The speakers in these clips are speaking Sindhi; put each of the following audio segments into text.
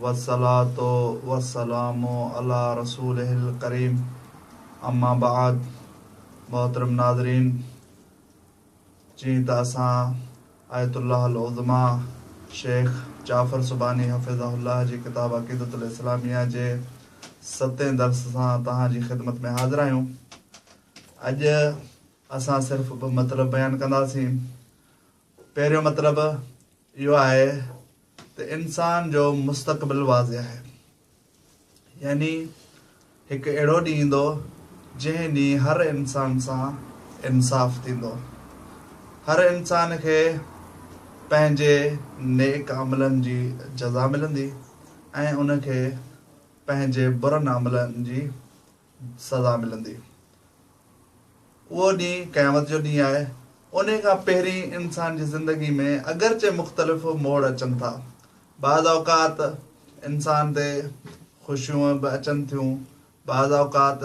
والصلوة والسلام علي رسوله الڪريم اما بعد محترم ناظرين جيئن ته اسان آيت الله العظميٰ شيخ جعفر سبحاني حفظه الله جي ڪتاب عقيدة الاسلاميه جي ستين درس سان توهان جي خدمت ۾ حاضر آهيون اڄ اسان صرف ٻه مطلب بيان ڪنداسين پهريون مطلب اهو آهي ته انسان جو مستقبل واضح آهي يعني هڪ اهڙو ڏينهن ايندو جنهن ڏينهن هر انسان سان انصاف ٿيندو هر انسان کي پنهنجي نيڪ عملن جي جزا ملندي ۽ ان کي پنهنجي برن عملن جي سزا ملندي. اهو ڏينهن قيامت جو ڏينهن آهي. انهي کان پهرين انسان جي زندگي ۾ اگرچه مختلف موڙ اچن ٿا. بعض اوقات انسان تي خوشيون به اچن ٿيون، بعض اوقات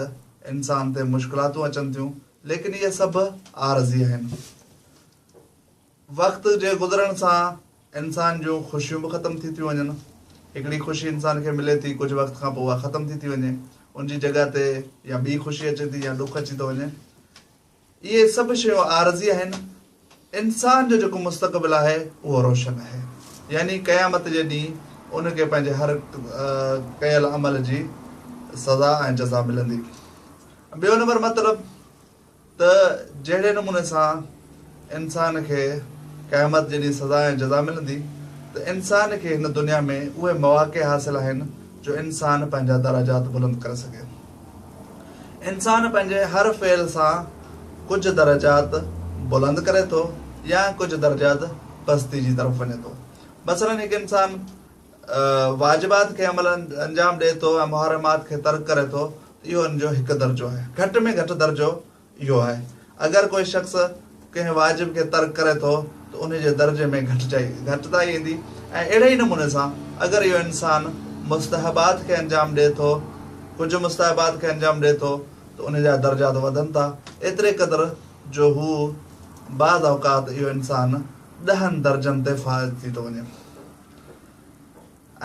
انسان تي مشڪلاتون اچن ٿيون، ليڪن اهي سڀ عارضي آهن. وقت جي گذرڻ سان انسان جون خوشيون به ختم ٿي ٿيون وڃن. هڪڙي خوشي انسان کي ملي ٿي ڪجهه وقت کان پوء اها ختم ٿي ٿي وڃي ان جي جڳهه تي يا ٻي خوشي اچي ٿي يا ڏک اچي ٿو وڃي. اهي سڀ شيون عارضي آهن. انسان جو جيڪو مستقبل آهي اهو روشن آهي يعني قيامت جي ڏينهن ان کي پنهنجي هر ڪيل عمل جي سزا ۽ جزا ملندي. ٻيو نمبر مطلب. ته جهڙي نموني سان انسان کي قيامت جي ڏينهن سزا ۽ جزا ملندي ته انسان کي هن دنيا ۾ اهي مواقع حاصل آهن جو انسان پنهنجا درجات بلند ڪري سگهي. انسان پنهنجي هر فعل سان ڪجهه درجات بلند ڪري ٿو يا ڪجهه درجات پستي جي طرف وڃي ٿو. مثلا هڪ انسان واجبات کي عملاً انجام ڏئي ٿو ۽ محرمات کي ترڪ ڪري ٿو ته اهو ان جو هڪ درجو آهي. گهٽ ۾ گهٽ درجو اهو آهي. اگر ڪوئي شخص ڪنهن واجب کي ترڪ ڪري ٿو ته انهي جي درجي ۾ گهٽجائي، گهٽتائي، ايندي ۽ اهڙي ئي نموني سان اگر اهو انسان مستحبات کي انجام ڏئي ٿو، ڪجهه مستحبات کي انجام ڏئي ٿو ته انهي جا درجات وڌن ٿا ايتري قدر جو هو بعض اوقات اهو انسان ڏهن درجن تي فائز ٿي ٿو وڃي.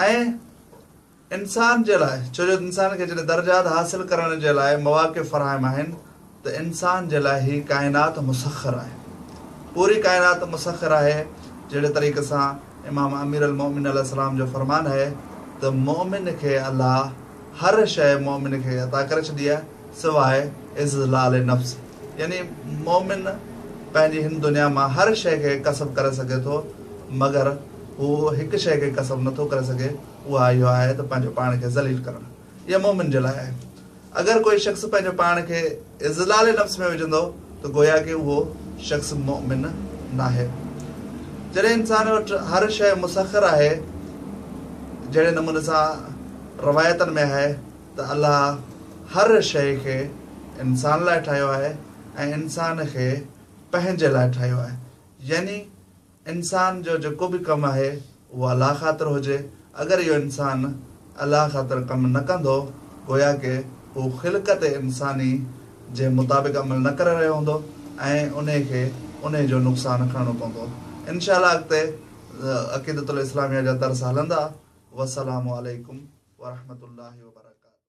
۽ انسان جي لاء ڇو جو انسان کي جڏهن درجات حاصل ڪرڻ جي لاء مواقع فراهم آهن ته انسان جي لاء هي ڪائنات مسخر آهي پوري ڪائنات مسخر آهي جهڙي طريقي سان امام امير المؤمن عليه السلام جو فرمان آهي ته مؤمن کي الله هر شيء مؤمن کي عطا ڪري ڇڏي آهي سواء اذلال نفس، يعني مؤمن پنهنجي هن دنيا مان هر شيء کي ڪسب ڪري سگهي ٿو، مگر هو هڪ شيء کي ڪسب نه ٿو ڪري سگهي، اها اهو آهي ته پنهنجو پاڻ کي ذليل ڪرڻ. اها مؤمن جي لاء آهي. اگر ڪوئي شخص پنهنجو پاڻ کي اذلال نفس ۾ وجهندو ته گويا ڪي اهو شخص مؤمن ناهي. جڏهن انسان وٽ هر شيء مسخر آهي، جهڙي نموني سان روايتن ۾ آهي، ته الله هر شيء کي انسان لاء ٺاهيو آهي ۽ انسان کي پنهنجي لاء ٺاهيو آهي يعني انسان جو جيڪو به ڪم آهي اهو الله خاطر هجي اگر اهو انسان الله خاطر ڪم نه ڪندو گويا ڪي هو خلقت انساني جي مطابق عمل نه ڪري رهيو هوندو ۽ انهي کي انهي جو نقصان کڻڻو پوندو انشاء الله اڳتي عقيدة الاسلاميه جا درس هلندا والسلام عليڪم ورحمة الله وبرڪاته.